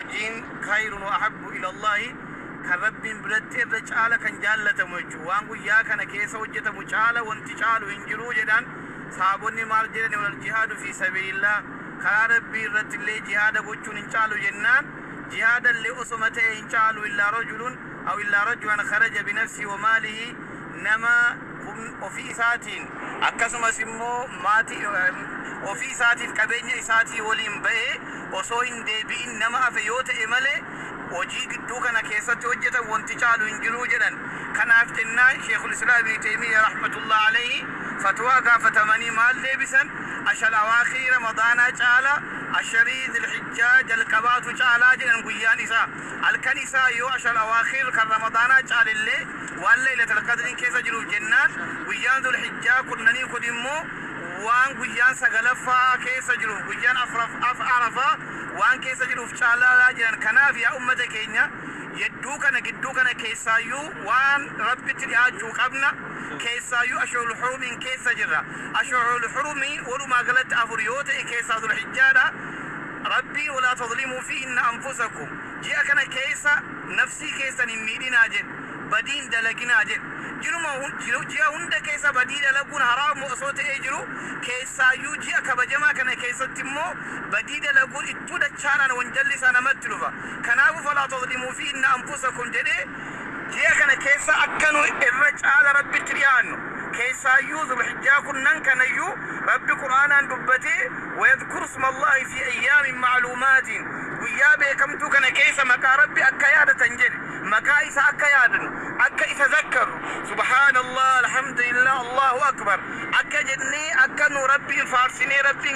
Diin khayrun wa ahabbu ila Allaahi, kan Rabbiin biratti irra caala kan jaallatamu jechuudha. Waan guyyaa kana keessa hojjatamu caala wanti caalu hin jiru jedhaan. Sahaabonni maal jedhani wal jihaadu fii sabiilillaah, karaa Rabbii irrattillee jihaada gochuun hin caalu jennaan, jihaadallee osoma ta'ee hin caalu illaa rajulun aw illaa rajulan kharaja binafsihi wa maalihi, nama humn ofii isaatiin akkasumas immoo maati ofii isaatiif qabeenya isaatii waliin ba'ee osoo hin deebi'in nama hafe yoo ta'e malee hojii gidduu kana keessatti hojjetan wanti caalu hin jiru jedhan. Kanaaf jennaan Sheikhul Islaam Ibni Teymiyya rahmatullaah aleyhi fatwaa gaafatamanii maal deebisan? Ashar awaakhirii Ramadaanaa caala asharii Zilhijjaa jalqabaatu caalaa jedhan guyyaan isaa. Halkan isaa yoo ashar awaakhir kan Ramadaanaa caalellee, Waan Laylatal Qadriin keessa jiruuf jennaan guyyaan Zul Hijjaa kurnanii kun immoo waan guyyaan sagalaffaa keessa jiruuf guyyaan afraffaa Arafaa waan keessa jiruuf caalaa jedhan kanaaf yaa ummata keenya yedduu kana gidduu kana keessaayyuu waan Rabbitti dhihaachuu qabna keessaayyuu Ashurul Hurumiin keessa jirra Ashurul Hurumi walumaa galatti afur yoo ta'e keessaa Zul Hijjaadha Rabbiin walaa tazlimuu fiihinna anfusakum ji'a kana keessa Nafsii keessan hin miidhinaa jedhe. Badii hin dalaginaa jedhe. Jiruma hun, ji'a hunda keessa badii dalaguun haraamuma osoo ta'ee jiruu, keessaayyuu ji'a kabajamaa kana keessatti immoo badii dalaguun ittuu dachaadhaan wanjalli isaa namatti dhufa. Kanaafu, Falaa tazlimuu fiihinna anfusakum jedhee, ji'a kana keessa akka nu irra caala Rabbitti dhiyaannu, keessaayyuu Zul-hijjaa kurnan kanayyuu Rabbi Qur'aanaan dubbatee, Wayadhkuru isma Allaahi fii ayyaamin ma'luumaatin, Guyyaa beekamtuu kana keessa maqaa Rabbi akka yaadatan jedhe maqaa isaa akka yaadnu, akka isa zakkarru, subhaanallah, alhamdulillah, Allaahu akbar akka jennee akka nu Rabbiin faarsinee Rabbiin.